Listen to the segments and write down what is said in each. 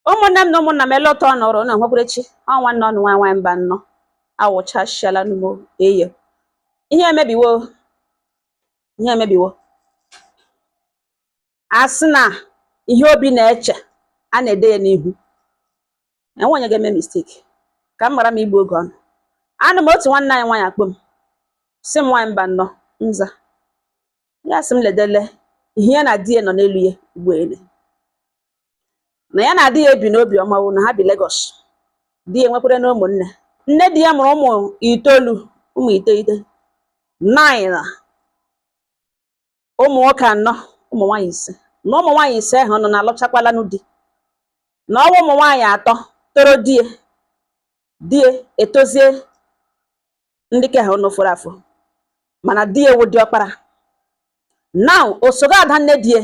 ụmụnne m na ụmụnna m ele ụtọ nọrọ na nhwekwurechi ọ wụ nwanne ụnụ nwaanyị nwaanyị Mbanọ awụchasịala n'ọgbọ eye ihe emebiwo ihe emebiwo a sị na ihe obi na-eche a na-ede ya n'ihu enwe onye ga-eme mistake ka m ghara m igbu oge ụnụ anọ m otu nwanne anyị nwaanyị akpọọ m sị m nwaanyị Mbanọ m za ya sị m ledele ihe ya na di ya nọ n'elu ya ugbu a lee na ya na di ya ebi n'obi ọma o na ha bi Lagos di ya nwekwaranụ ụmụnne nne di ya mụrụ ụmụ itoolu ụmụ iteghete nine na ụmụ nwoke anọ ụmụ nwaanyị ise na ụmụ nwaanyị ise ahụnụ na alụchakwalanụ di na ọ wụ ụmụ nwaanyị atọ toro di ya di ya etozie ndị ke ahụnụ fọrọ afọ mana di ya wụ diọkpara now osoga ada nne di ya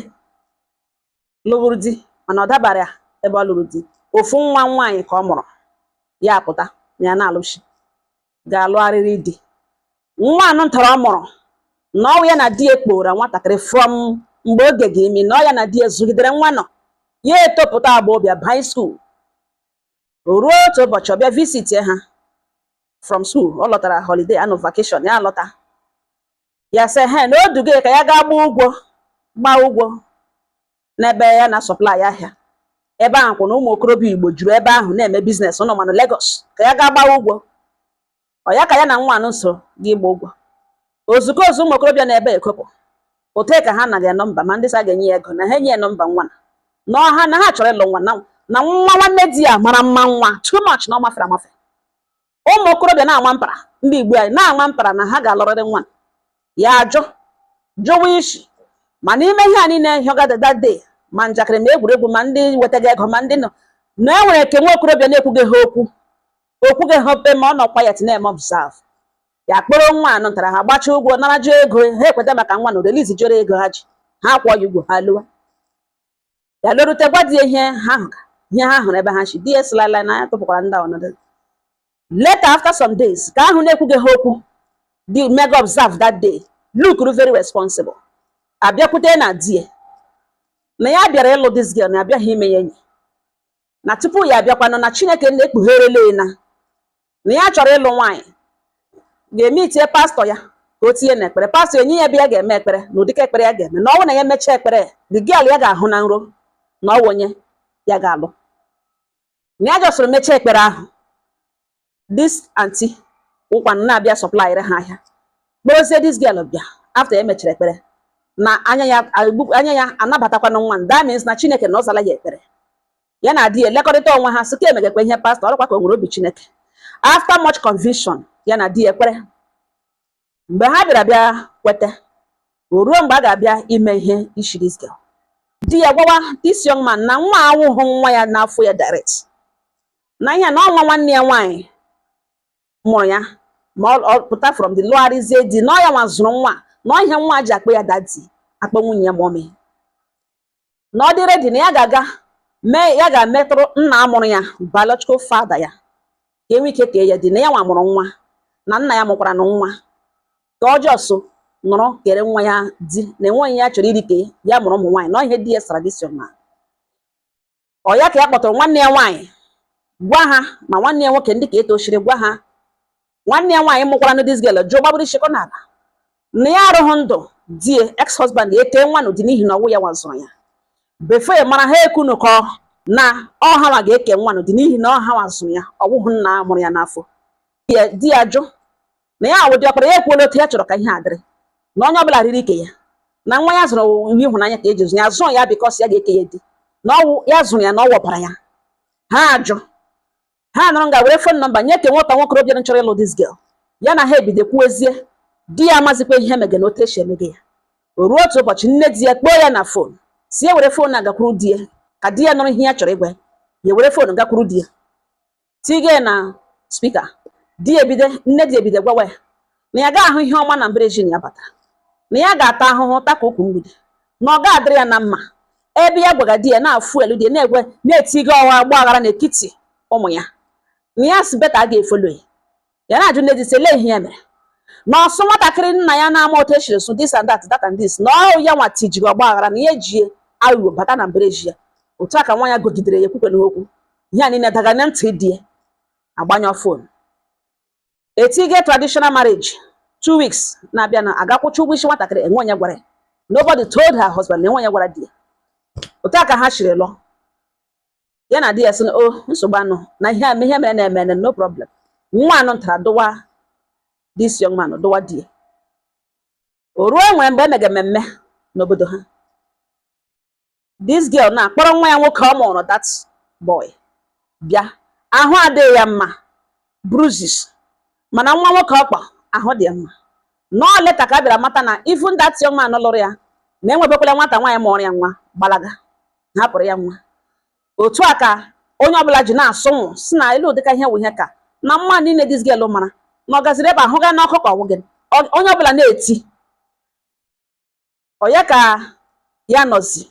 lụburu di mana ọ dabara ya ebe ọ lụrụ di ofu nwa nwaanyị ka ọ mụrụ ya apụta na ya na-alụchi ga-alụgharịrị di nwa anụ ntara ọ mụrụ na ọ wụ ya na di ya kpọọrọ nwatakịrị from mgbe oge ga-emi na ọ ya na di ya zụgidere nwa anụ ya etopụta agbọ bịa baa high school ruo otu ụbọchị ọ bịa visit ha from school ọ lọtara holiday anụ vacation ya alọta ya sị ya na o duga ka ya gaa gbaa ụgwọ gbaa ụgwọ n'ebe ya na supply ahịa ebe ahụkwanụ ụmụ okorobịa Igbo juru ebe ahụ na-eme business ụnụ manụ Lagos ka ya gaa gbaa ụgwọ ọ ya ka ya na nwa anụ so gaa ịgba ụgwọ ozugbo ozugbo ụmụ okorobịa nọ ebe ekopụ ote ka ha naghị nọmba ma ndị sị ha ga-enye ya ego na ha enye ya nọmba nwa anụ ọha na ha chọrọ ịlụ nwa anụ nwa nwanne di ya mara mma nwa too much na ọ mafere amafe ụmụ okorobịa na-ama mpara ndị Igbo anyị na-ama mpara na ha ga-alụrịrị nwa ya ajụ jụwa isi ma n'ime ihe a niile hịọgadada de ma njakịrị ma egwuregwu ma ndị wetaga ego ma ndị nọ na e nwere nke nwa okorobịa na-ekwughị ha okwu o kwughị ha pịm ọ nọ quiet na-eme observe ya kpọrọ nwa anụ ntara ha gbachaa ụgwọ nara jụọ ego ha ekweta maka nwa anụ release jụrụ ego ha ji ha akwụọ ya ụgwọ ha alawa ya larute gwa di ihe ha hụga ihe ha hụrụ ebe ha si di esilala na ya tụpụkwara ndị ọnọdụ later after some days ke ahụ na-ekwughị ha okwu di mega observe that day look very responsible abịakwute ya na di ya na ya bịara ịlụ this girl na ya abịaghị ime ya enyi na tupu ya abịakwanụ na Chineke nna ekpugheerele na na ya chọrọ ịlụ nwaanyị gaa meetie pastọ ya ka o tinye n'ekpere pastọ enye ya ebe ya ga-eme ekpere na ụdị ekpere ya ga-eme na ọ wụ na ya mechaa ekpere the girl ya ga-ahụ na nrọ na ọ wụ onye ya ga-alụ na ya jọsịrị mechaa ekpere ahụ this aunty ụkwanụ na-abịa supplyrị ha ahịa kpọrọzie this girl bịa after e mechara ekpere na anya ya anya ya anabatakwanụ nwa that means na chineke na ọ zala ya ekpere ya na di ya elekọrịta onwe ha sị ka e megakwa ihe pastọ ọ rụkwa ka o nwere obi chineke after much conviction ya na di ya ekpere mgbe ha bịara bịa kweta o ruo mgbe a ga-abịa ime ihe isi this girl di ya gwawa this young man na nwa awụhụ nwa ya n'afọ ya direct na ihe na ọ nwa nwanne ya nwaanyị mụrụ ya mapụta from there lụgharịzie di na ọ ya nwa zụrụ nwa na ọ ihe nwa ji akpọ ya daddy akpọ nwunye ya mommy na ọ dị ready na ya ga-aga mee ya ga-emetụrụ nna mụrụ ya biological father ya ka e nwee ike kee ya di na ya nwa mụrụ nwa na nna ya mụkwaranụ nwa ka ọ just nọrọ kere nwa ya di na enweghị ihe ya chọrọ irite ya mụrụ ụmụ nwaanyị na ihe di ya traditional ọ ya ka ya kpọtụrụ nwanne ya nwaanyị gwa ha ma nwanne ya nwoke ndị ka etochiri gwa ha nwanne ya nwaanyị mụkwaranụ this girl jụọ gbagburu ishi kọ n'ala na ya arụghị ndụ di ya ex husband ya ekee nwa nụ di n'ihi na ọwụ ya nwa zụrụ ya before mara ha ekunụkọ na ọ ha nwa ga-eke nwa nụ di n'ihi na ọ ha nwa zụrụ ya ọwụhụ nna mụrụ ya n'afọ di ya ajụ na ya awụ ọkpara ya ekwuola otu ya chọrọ ka ihe a dịrị na onye ọbụla riri ike ya na nwa ya zụrụ ihe ịhụnanya ka e ji zụ ya zụọ ya because ya ga-eke ya di na ọwụ ya zụrụ ya na ọwụ ọbara ya ha ajụ ha nọrọ nga were phone number nye ke nwata nwokorọbịa chọrọ ịlụ this girl ya na ha ebido kwuezie di ya amazikwa ihe mege na otu esi emege ya o ruo otu ụbọchị nne di ya kpọọ ya na phone sị ya were phone gakwuru di ya ka di ya nụrụ ihe ya chọrọ ịgwa ya ya were phone gakwuru di ya Tige na speaker di ya ebido nne di ya ebido gwawa ya na ya ga-ahụ ihe ọma na mbara ezi nụ ya batara na ya ga-ata ahụhụ ta ka ukwu mgbidi na ọ ga-adịrị ya na mma ebe ya gwaga di ya na-afụ elu di ya na-egwe na-etiga ọgba aghara n'etiti ụmụ ya na ya si beta a ga-efolo ya ya na-ajụ nne di sị elee ihe ya mere na ọsụ nwatakịrị nna ya na-ama otu e shiri zụọ this and that that and this na ọ ya nwa tijiri ọgba aghara na ya eji aghụghọ bata na mbara ezi ya otu a ka nwa ya gụgidere ya ekwukwe n'okwu ihe a niile daga na ntị di ya agbanyọ phone etige traditional marriage two weeks na-abịa na a gakwụcha ụgwọ isi nwatakịrị enwe onye gwara ya nobody told her husband na enwe onye gwara di ya otu a ka ha shiri lụọ ya na di ya sị na o oh, nsogbu anụ na ihe a ihe mere na-eme na no problem nwa anụ ntara dụwa this young man dụwa di ya o ruo nwere mgbe emege mmemme n'obodo ha this girl na-akpọrọ nwa ya nwoke ọ mụrụ that boy bịa ahụ adịghị ya mma bruises mana nwa nwoke ọ kpọ ahụ dị ya mma na ọ later ka a bịara mata na even that young man lụrụ ya na enwebekwala nwata nwaanyị mụrụ ya nwa gbalaga hapụrụ ya nwa otu a ka onye ọbụla ji na-asụ nwụ si na elu ụdịka ihe wụ ihe ka na mma niile this girl mara na ọ gaziri ebe ahụ gaa n'ọkụ ka ọ wụghị onye ọbụla na-eti onye ka ya nọzi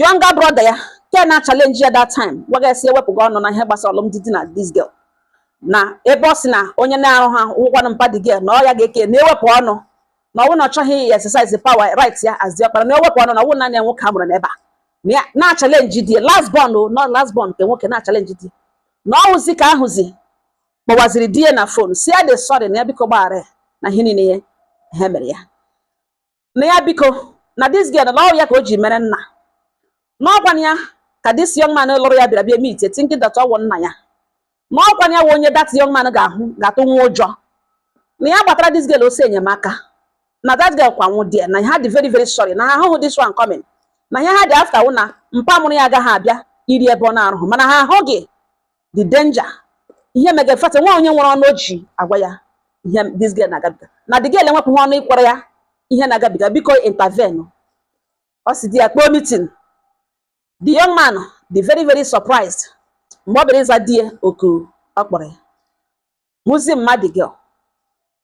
younger brother ya ke na challenge ya that time gwaga esi ewepụga ọnụ na ihe gbasara alụmdi di na this girl na ebe ọ sị na onye na-arụ ha wụkwanụ mpa the girl na ọ ya ga-eke na-ewepụ ọnụ na ọwụ na ọ chọghị exercise power right ya as diọkpara na ewepụ ọnụ na ọwụ naanị ya nwoke a mụrụ n'ebe a na ya na-achallenge the last born o nọ last born nke nwoke na-achallenge di na ọwụzi ka ahụzi kpọwaziri di ya na phone sị ya dị sorry na ya biko gbaghara ya na ihe niile ya ha mere ya na ya biko na this girl na ọwụ ya ka o ji mere nna n'ọkwa ya ka this young man lụrụ ya bịara bịa meet thinking that ọwụ nna ya na ọkwa ya wụ onye that young man ga-atụ nwa ụjọ na ya gbatara this girl ọsọ enyemaka na that girl kwa nwụ die na ha dị very very sorry na ha ahụhụ this one coming na ihe ha dị after wụ na mpa mụrụ ya agaghị abịa iri ebe ọ na-arụhụ mana ha ahụghị the danger ihe mega fata nwa onye nwere ọnụ oji agwa ya ihe this girl na-agabiga na the girl enwepụ ha ọnụ ịkwara ya ihe na-agabiga biko intervene ọ si di ya kpọọ meeting the young man dị very very surprised mgbe ọ bịara ịza di ya oku ọ kpọrọ ya hụzi mma the girl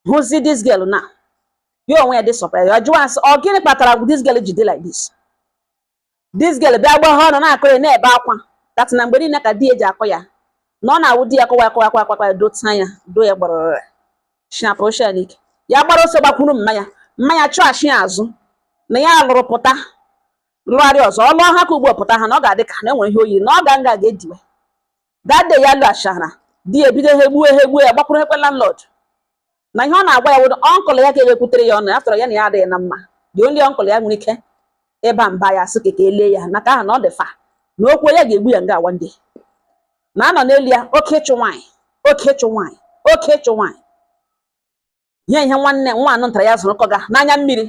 hụzi this girl na ya onwe ya dị surprised ya jụwa asị ọ gịnị kpatara this girl ji dị like this this girl bịa gwa ha ọnụ na-akọ ya na-ebe akwa that na mgbe niile ka di ya ji akụ ya na ọ na-awụ di ya kụwa akụwa akwa akwa ya dota ya do ya gbarọrọ shinapụ ochie n'ike ya gbara ọsọ gbakwuru mma ya mma ya chụghachi ya azụ na ya lụrụ pụta lụgharị ọzọ ọ lụọ ha ka ugbo pụta ha na ọ ga-adị ka na enwere ihe oyiri na ọ ga nga ga-ediwe that day ya lụ achara di ya ebido ha egbuo ha egbuo ya gbakwuru ekwe landlord na ihe ọ na-agwa ya wụrụ uncle ya ka ewekwutere ya ọnụ ya tọrọ ya na ya adịghị na mma the only uncle ya nwere ike ịba mba ya sị ka elie ya na ka aha na ọ dị fa na okwu ya ga-egbu ya nga a one day na anọ n'elu ya oke ịchụ nwaanyị oke ịchụ nwaanyị oke ịchụ nwaanyị nye ihe nwanne nwa anụ ntara ya zụrụ kọga n'anya mmiri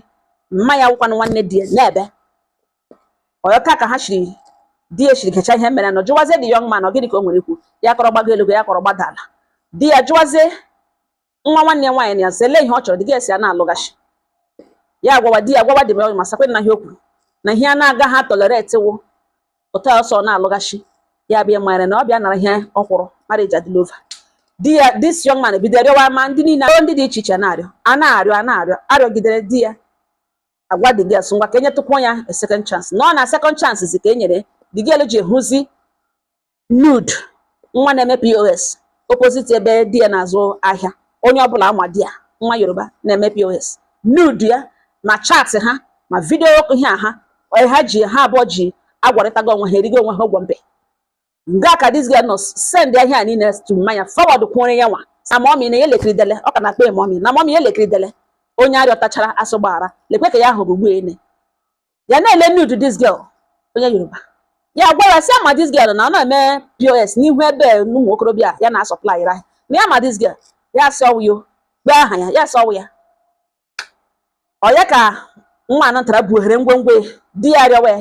mma ya wụkwanụ nwanne di ya na-ebe ọyọka ka ha chiri di ya chiri kecha ihe mere nọ jụwazie the young man ọ gịnị ka o nwere ikwu ya kọrọ gbago elu ya kọrọ gbada ala di ya jụwazie nwa nwanne ya nwaanyị na ya sị lee ihe ọ chọrọ the girl sị a na-alụghachi ya gwawa di ya gwawa dị m ọyụ ma sakwe na ihe o kwuru na ihe a na-agaghị atolerate wụ otu a ọsọ na-alụghachi ya bịa mara na ọ bịa nara ihe ọ kwụrụ marriage adịla over di ya this young man bido rịọwa ma ndị niile ndị dị iche iche na-arịọ a na-arịọ a na-arịọ arịọgidere di ya agwa the girl asị ngwa ka enyetụkwuo ya a second chance na ọ na second chance zi ka e nyere the girl e ji hụzi nude nwa na-eme pos opposite ebe di ya na-azụ ahịa onye ọbụla ama di ya nwa yoruba na-eme pos nude ya ma chat ha ma vidio ihe a ha ha ji ha abụọ ji agwarịtago onwe ha erigo onwe ha ụgwọ mbe nga ka dis girl nọ send ihe a niile to mma ya forward kwụrụ ya nwa sị mọmi na ya elekiri dele ọ ka na-akpọ mọmi na mọmi ya elekiri dele onye arịọtachara sị gbaghara lekwe ka ya hụrụ ugbu ene ya na-ele nude this girl onye yoruba ya gwa ya sị ya ma this girl na ọ na-eme pos n'ihu ebe ụmụ okorobịa ya na supply ra na ya ma this girl ya sị ọ wụ ya gbe aha ya ya sị ọ wụ ya ọ ya ka nwa anọ ntara buhere ngwongwo ya di ya rịọwa ya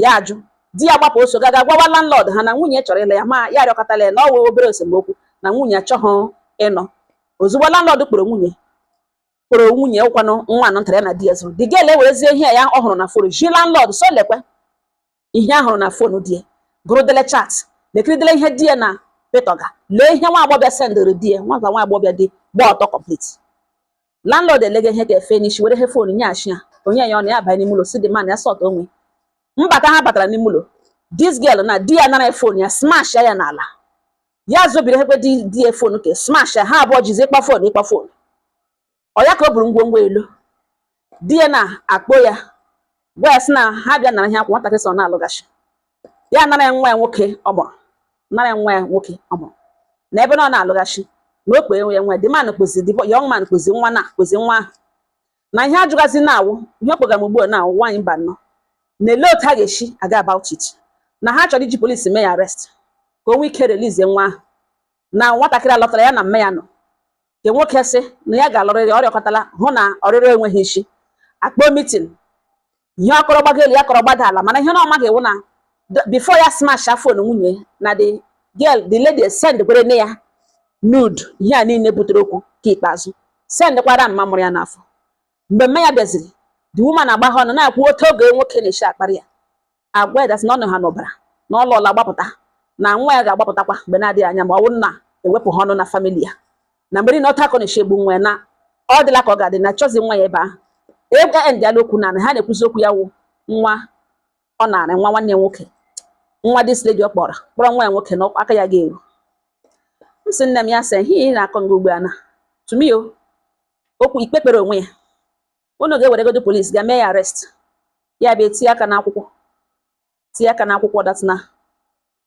ya ajụ di ya gbapụ oso gaa ga gwawa landlord ha na nwunye chọrọ ịla ya ma ya rịọkọtala ya na ọ wụ obere esemokwu na nwunye achọghị ịnọ ozugbo landlord kpọrọ nwunye kpọrọ nwunye ya ụkwanụ nwa anọ ntara ya na di ya zụrụ the girl ewerezie ihe ya ọ hụrụ na fon zi landlord sị lekwe ihe ya hụrụ na fon di ya gụrụdele chat lekiridele ihe di ya na petoga lee ihe nwa agbọbịa sendịrị di ya nwata nwa agbọbịa dị gba ọtọ complete landlord elega ihe ga-efe n'isi were ihe fon nyeachi ya o nye ya ọ nara ya banye n'ime ụlọ sị the man ya sort onwe mbata ha batara n'ime ụlọ this girl na di ya nara fon ya smash ya n'ala ya zobiri ekwe di ya fon ke smash ya ha abụọ jizi ịkpa fon ịkpa fon ọ ya ka o buru ngwongwo ya lọ di ya na-akpọ ya gwa ya sị na ha bịa nara ihe akwụ nwatakịrị sị ọ na-alụghachi ya nara ya nwa ya nwoke ọ mụrụ nara ya nwa ya nwoke ọ mụrụ na ebe na ọ na-alụghachi na o kpee ya nwa ya the man kpozi the young man kpozi nwa na kpozi nwa ahụ na ihe ajụgazi na-awụ ihe o kpogara m ugbu a na-awụ nwaanyị mba nọ na-ele otu ha ga-esi aga about it na ha chọrọ iji polisi mee ya arrest ka o nwee ike release nwa ahụ na nwatakịrị alọtala ya na mme ya nọ nke nwoke sị na ya ga-alụrịrị ọ rịọkọtala hụ na ọrịrịọ enweghị isi a kpọọ mitin ihe ọ kọrọ gbago elu ya kọrọ gbada ala mana ihe na ọ maghị wụ na before ya smash fon nwunye na the girl the lady send kwere nne ya nude ihe a niile butere okwu nke ikpeazụ send kwara mma mụrụ ya n'afọ mgbe mma ya bịaziri the woman agba ha ọnụ na-ekwu otu ọgọ ya nwoke na-eshi akparị ya agwa ya that sị na ọ nọ ha n'ọbara na ọ lụọla gbapụta na nwa ya ga-agbapụtakwa mgbe na-adịghị anya ma ọ wụ na ewepụ ha ọnụ na famili ya na mgbe niile otu ọ ka na-eshi egbu nwa ya na ọ dịla ka ọ ga-adị na chọzi nwa ya ebe ahụ ebe e endịala okwu naanị ihe a na-ekwuzi okwu ya wụ nwa ọ nara nwa nwanne nwoke nwa dis lady ọ kpọrọ kpọrọ nwa ya nwoke na aka ya ga-eru m sị nne m ya sị ihe ị na-akọ nga ugbu a na to me o okwu ikpe kpere onwe ya unu ga-eweregodo polis ga mee ya arrest ya bịa tinye aka n'akwụkwọ tinye aka n'akwụkwọ that na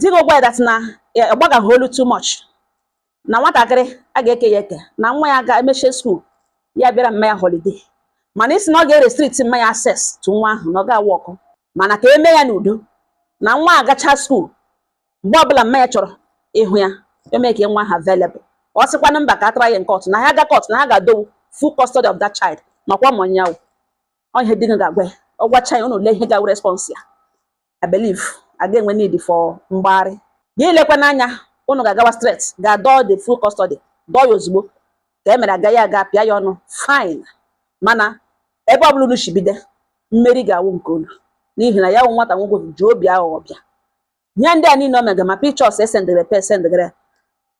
di gị gwa ya that na ya ọ gbagaghị olu too much na nwatakịrị a ga-eke ya eke na nwa ya ga emechie school ya bịara mma ya holiday mana ị sị na ọ ga-erestrict mma ya access to nwa ahụ na ọ gaghị awork mana ka e mee ya n'udo na nwa agacha school mgbe ọbụla mma ya chọrọ ịhụ ya eme ka nwa ha available ọ sịkwanụ mba ka a try ya na court na ha ga court na ha ga-adọwu full custody of that child makwa ma ọnyanwụ ọ ihe di gị ga-agwa ya ọ gwacha ya unu lee ihe ga-awụ response ya I believe a ga-enwe need for mgbagharị gị lekwa n'anya unu ga-agawa straight ga dọọ the full custody dọọ ya ozugbo ka e mere agaghị aga pịa ya ọnụ fine mana ebe ọbụla unu shibide mmeri ga-awụ nke unu n'ihi na ya wụ nwata nwoke ji obi aghụghọ bịa ihe ndị a niile o mega ma pictures e sendere pe e sendere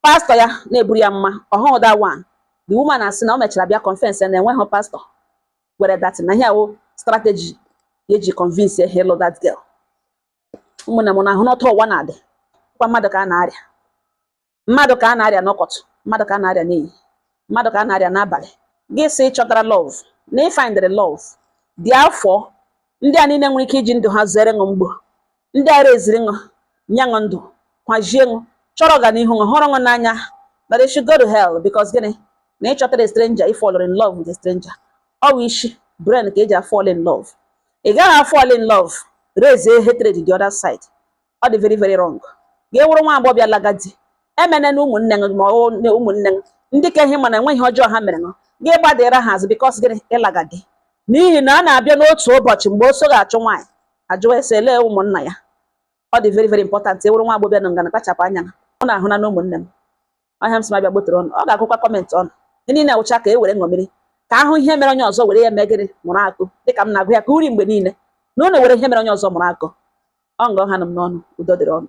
pastor ya na-eburu ya amụma ọhụụ that one the woman asị na o mechara bịa confess na enweghị pastor were that na ihe a wụ strategy ya e ji convince ya ịlụ that girl ụmụnne m unu ahụna otu ụwa na-adịkwa mmadụ ka a na-arịa mmadụ ka a na-arịa n'ụtụtụ mmadụ ka a na-arịa n'ehihie mmadụ ka a na-arịa n'abalị gị sị ị chọtara love na ị findịrị love gị ahafụ ndị a niile nwere ike iji ndụ ha zere ṅụ mgbo Ndị a raisiri ṅụ, nye ṅụ ndụ, kwazie ṅụ, chọrọ ọganihu ṅụ, hụrụ ṅụ n'anya, but they should go to hell because gịnị? Na ị chọtara a stranger, ị fall in love with a stranger. Ọ bụ isi brain ka e ji afall in love. Ị gaghị afall in love, raise a hatred the other side. Ọ dị very very wrong. Gị wụrụ nwa agbọghọbịa laga di, emene na ụmụnne ṅụ ma ọ na ụmụnne ṅụ, ndị nke ị ma na enweghị ọjọọ ha mere ṅụ, gị gbadara ha azụ because gịnị? Ị laga di. N'ihi na a na-abịa n'otu ụbọchị mgbe ọsọ ga-achụ nwaanyị, a jụwa ese elee ụmụnna ya ọ dị very very important ị wụrụ nwa agbọghọbịa nọ nga na kpachapụ anya unu ahụna ụmụnne m ọ ihe a m sị m bịa gbotere unu ọ ga-agụkwa comment unu ihe niile a wụcha ka e were ṅomiri ka a hụ ihe mere onye ọzọ were ya mee gịnị mụrụ akọ dịka m na-agụ ya ka uri mgbe niile na unu were ihe mere onye ọzọ mụrụ akọ ọ nga ọ hana m n'ọnụ udo dịrị unu